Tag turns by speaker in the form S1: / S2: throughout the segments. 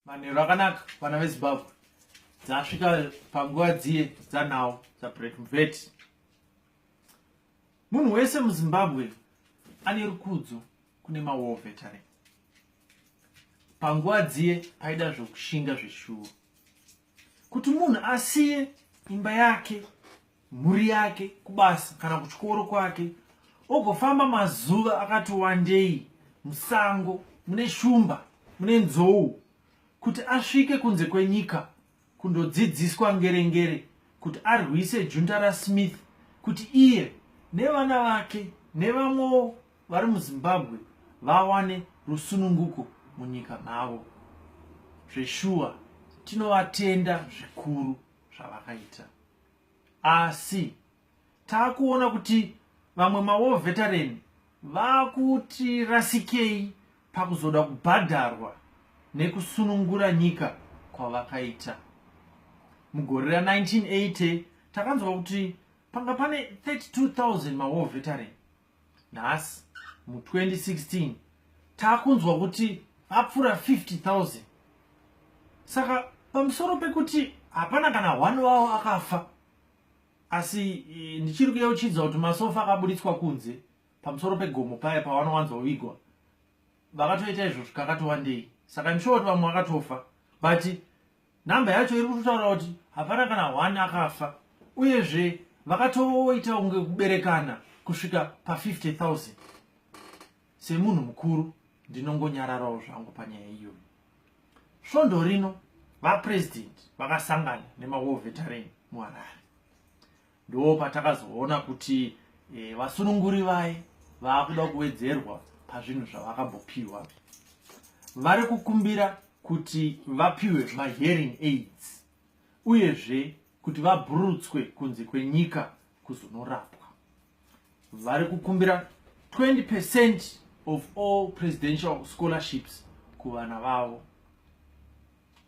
S1: manheru akanaka vana vezimbabwe dzasvika panguva dziye dzanhau dzabreak mvet munhu wese muzimbabwe ane rukudzo kune mawar veteran panguva dziye paida zvokushinga zveshuwo kuti munhu asiye imba yake mhuri yake kubasa kana kuchikoro kwake ogofamba mazuva akati wandei musango mune shumba mune nzou kuti asvike kunze kwenyika kundodzidziswa ngerengere kuti arwise junta rasmith kuti iye nevana vake nevamwewo vari muzimbabwe vawane rusununguko munyika mavo zveshuwa tinovatenda zvikuru zvavakaita asi taakuona kuti vamwe mawo veteran vakuti rasikei pakuzoda kubhadharwa nekusunungura nyika kwavakaita mugore ra 1980 takanzwa kuti panga pane 32000 mawo veteran nhasi mu 2016 takunzwa kuti apfuura 50000 saka pamusoro pekuti hapana kana one wavo akafa asi e, ndichiri kuyeuchidza kuti masofa akaburitswa kunze pamusoro pegomo paya pavanowanzwa vigwa vakatoita izvozvo kakatowandei saka ndishooti vamwe vakatofa but number yacho iri kutotaura kuti hapana kana one akafa uyezve vakatoita kunge kuberekana kusvika pa50 000 semunhu mukuru ndinongonyararawo zvangu panyaya iyoyo svondo rino vapresident vakasangana nemawar veteran muharare ndo patakazoona kuti e, vasununguri vaye vaakuda kuwedzerwa pazvinhu zvavakabopiwa vari kukumbira kuti vapiwe mahearing aids uyezve kuti vabhurutswe kunze kwenyika kuzonorapwa vari kukumbira 20 percent of all presidential scholarships kuvana vavo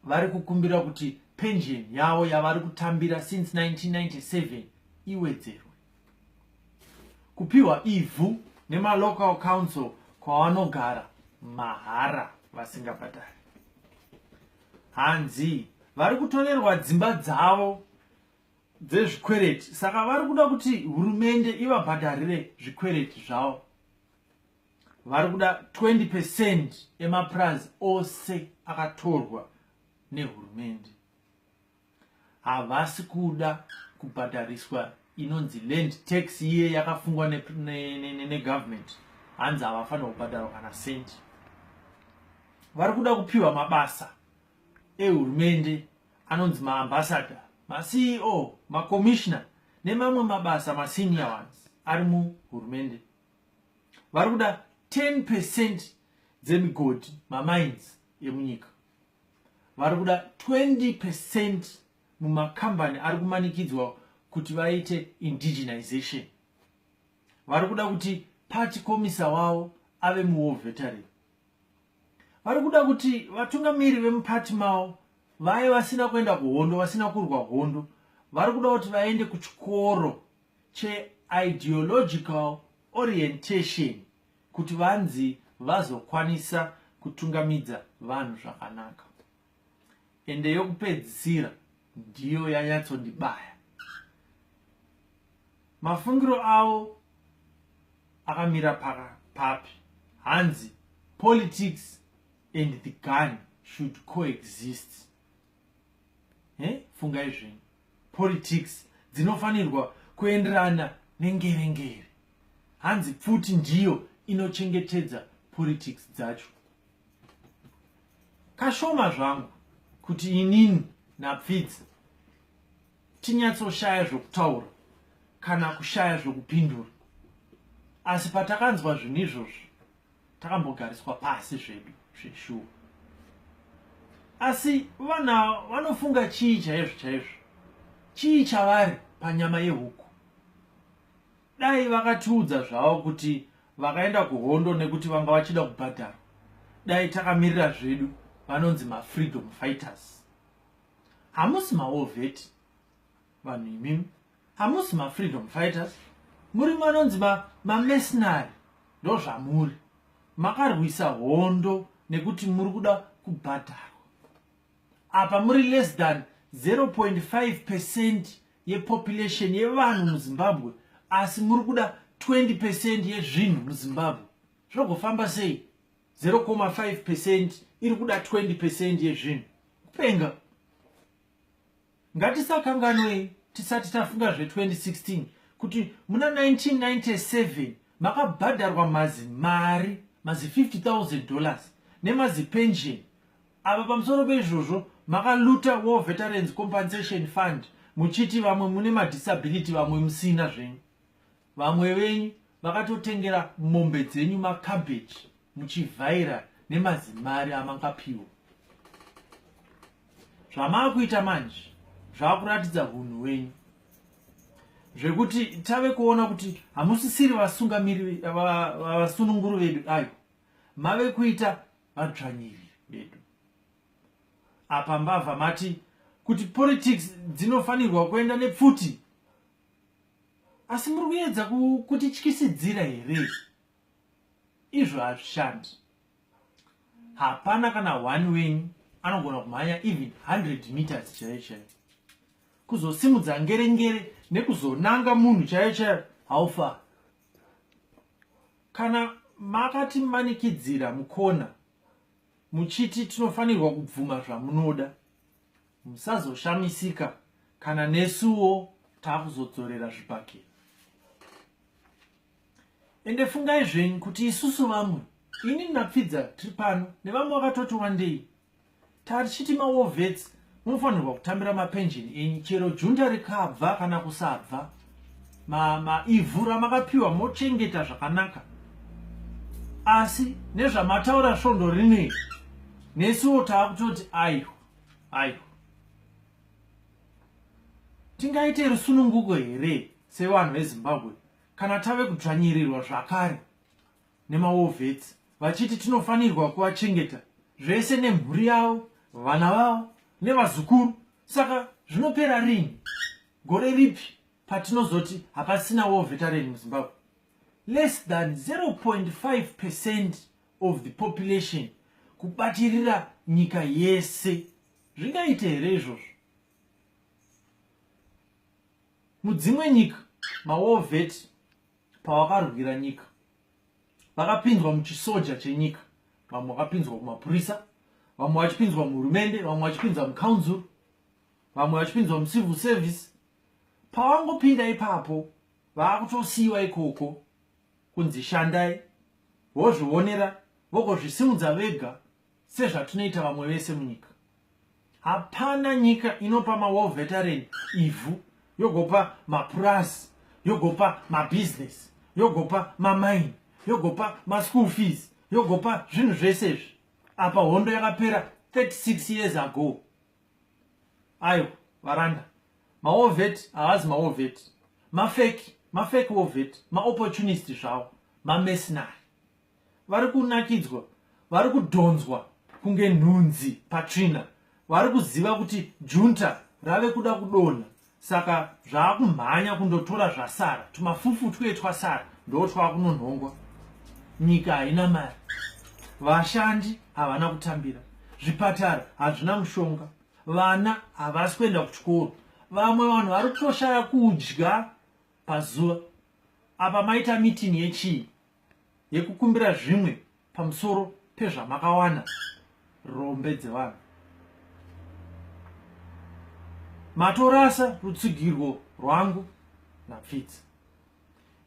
S1: vari kukumbira kuti pension yavo yavari kutambira since 1997 iwedzerwe kupiwa ivhu nemalocal council kwavanogara mahara vasingabhadhari hanzi vari kutorerwa dzimba dzavo dzezvikwereti saka vari kuda kuti hurumende ivabhadharire zvikwereti zvavo vari kuda 20 percent emapurazi ose akatorwa nehurumende havasi kuda kubhadhariswa inonzi land tax iye yakafungwa negovernment ne, ne, ne hanzi havafanira kubhadharwa kana centi vari kuda kupiwa mabasa ehurumende anonzi maambassador maceo macommissioner nemamwe mabasa masenior ones ari muhurumende vari kuda 10 percent dzemigodhi mamines emunyika vari kuda 20 percent mumakambani ari kumanikidzwa kuti vaite indigenization vari kuda kuti party komisa wavo ave muwar veteran vari kuda kuti vatungamiri vemupati mavo vaye vasina kuenda kuhondo vasina kurwa hondo vari kuda kuti vaende kuchikoro cheideological orientation kuti vanzi vazokwanisa kutungamidza vanhu zvakanaka ende yokupedzisira ndiyo yanyatsondibaya mafungiro avo akamira papi hanzi politics and the gun should coexist eh? fungai zvenyu politics dzinofanirwa kuenderana nengerengere hanzi pfuti ndiyo inochengetedza politics dzacho kashoma zvangu kuti inini napfidzi tinyatsoshaya zvokutaura kana kushaya zvokupindura asi patakanzwa zvinhu izvozvo takambogariswa pasi zvedu zveshuwa asi vana vanofunga chii chaizvo chaizvo chii chavari panyama yehuku dai vakatiudza zvavo kuti vakaenda kuhondo nekuti vanga vachida kubhadhara dai takamirira zvedu vanonzi mafreedom fighters hamusi maovheti vanhu imimi Hamusi ma freedom fighters, muri manonzi ma, ma mercenary ndozvamuri. Makarwisa hondo nekuti muri kuda kubhadharwa. Apa muri less than 0.5 percent yepopulation yevanhu muzimbabwe asi muri kuda 20 percent yezvinhu muzimbabwe zvogofamba sei 0.5 percent iri kuda 20 percent yezvinhu kupenga Ngatisakanganwei tisati tafunga zve 2016 kuti muna 1997 makabhadharwa mazi mari mazi 50000 dollars nemazi pension ava pamusoro peizvozvo makaluta war veterans compensation fund muchiti vamwe mune madisability vamwe musina zvenyu Vamwe venyu vakatotengera mombe dzenyu macabbage muchivhaira nemazimari amangapiwa. Zvamaakuita manje zvaakuratidza hunhu wenyu zvekuti tave kuona kuti hamusisiri vasungamiri vasununguru vedu ayo mave kuita vadzvanyiri vedu apa mbavha mati kuti politics dzinofanirwa kuenda nepfuti asi muri kuedza kutityisidzira here izvo hazvishandi hapana kana one wenyu anogona kumhanya even 100 meters chaiyo chaiyo kuzosimudza ngere ngere nekuzonanga munhu chaiyo chaiyo haufa kana makatimanikidzira mukona muchiti tinofanirwa kubvuma zvamunoda musazoshamisika kana nesuwo taakuzodzorera zvibhakera ende fungai zvenyu kuti isusu vamwe ini napfidza tiri pano nevamwe vakatoti wandei tarichiti mawovets munofanirwa kutambira mapenjeni enyu chero junta rikabva kana kusabva maivhu ma ramakapiwa mochengeta zvakanaka asi nezvamataura svondo rinei nesuwo taakutoti aiwa ayo tingaite rusununguko here sevanhu vezimbabwe kana tave kudzvanyirirwa zvakare nemawovhets vachiti tinofanirwa kuvachengeta zvese nemhuri yavo vana vavo nevazukuru saka zvinopera rini gore ripi patinozoti hapasina wovetareni muzimbabwe less than 0.5 percent of the population kubatirira nyika yese zvingaite here izvozvo mudzimwe nyika mawovheti pavakarwira nyika vakapinzwa muchisoja chenyika vamwe vakapinzwa kumapurisa vamwe vachipinzwa muhurumende vamwe vachipinzwa mucouncil vamwe vachipinzwa mucivil service pavangopinda ipapo vaakutosiyiwa ikoko kunzi shandai vozvionera vogozvisimudza vega sezvatinoita vamwe vese munyika hapana nyika inopa mawar veteran ivhu yogopa mapurazi yogopa mabusiness yogopa mamaini yogopa maschool fees yogopa zvinhu zvese izvi apa hondo yakapera 36 years ago ayo varanda maovet havazi maovet mafeki mafeki ovet maopportunist zvavo mamesinari vari kunakidzwa vari kudhonzwa kunge nhunzi patsvina vari kuziva kuti junta rave kuda kudonha saka zvaakumhanya kundotora zvasara tumafufu twuye twasara ndoo twaakunonhongwa nyika haina mari vashandi havana kutambira zvipatara hazvina mushonga vana havasi kuenda kuchikoro vamwe vanhu vari kutoshaya kudya pazuva apa maita mitini yechii yekukumbira zvimwe pamusoro pezvamakawana rombe dzevanhu matorasa rutsigirwo rwangu napfidzi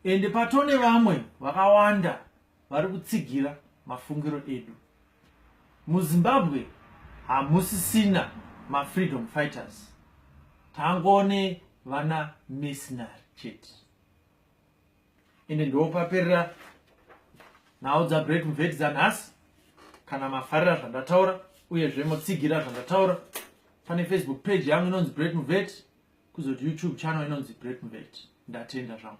S1: ende patone vamwe vakawanda vari kutsigira mafungiro edu muzimbabwe hamusisina mafreedom fighters tangone vana mesinary chete ende ndopaperera nhau dzabreak mveti dzanhasi kana mafarira zvandataura uyezve motsigira zvandataura pane facebook page yangu inonzi break mveti kuzoti youtube channel inonzi break mveti ndatenda zvangu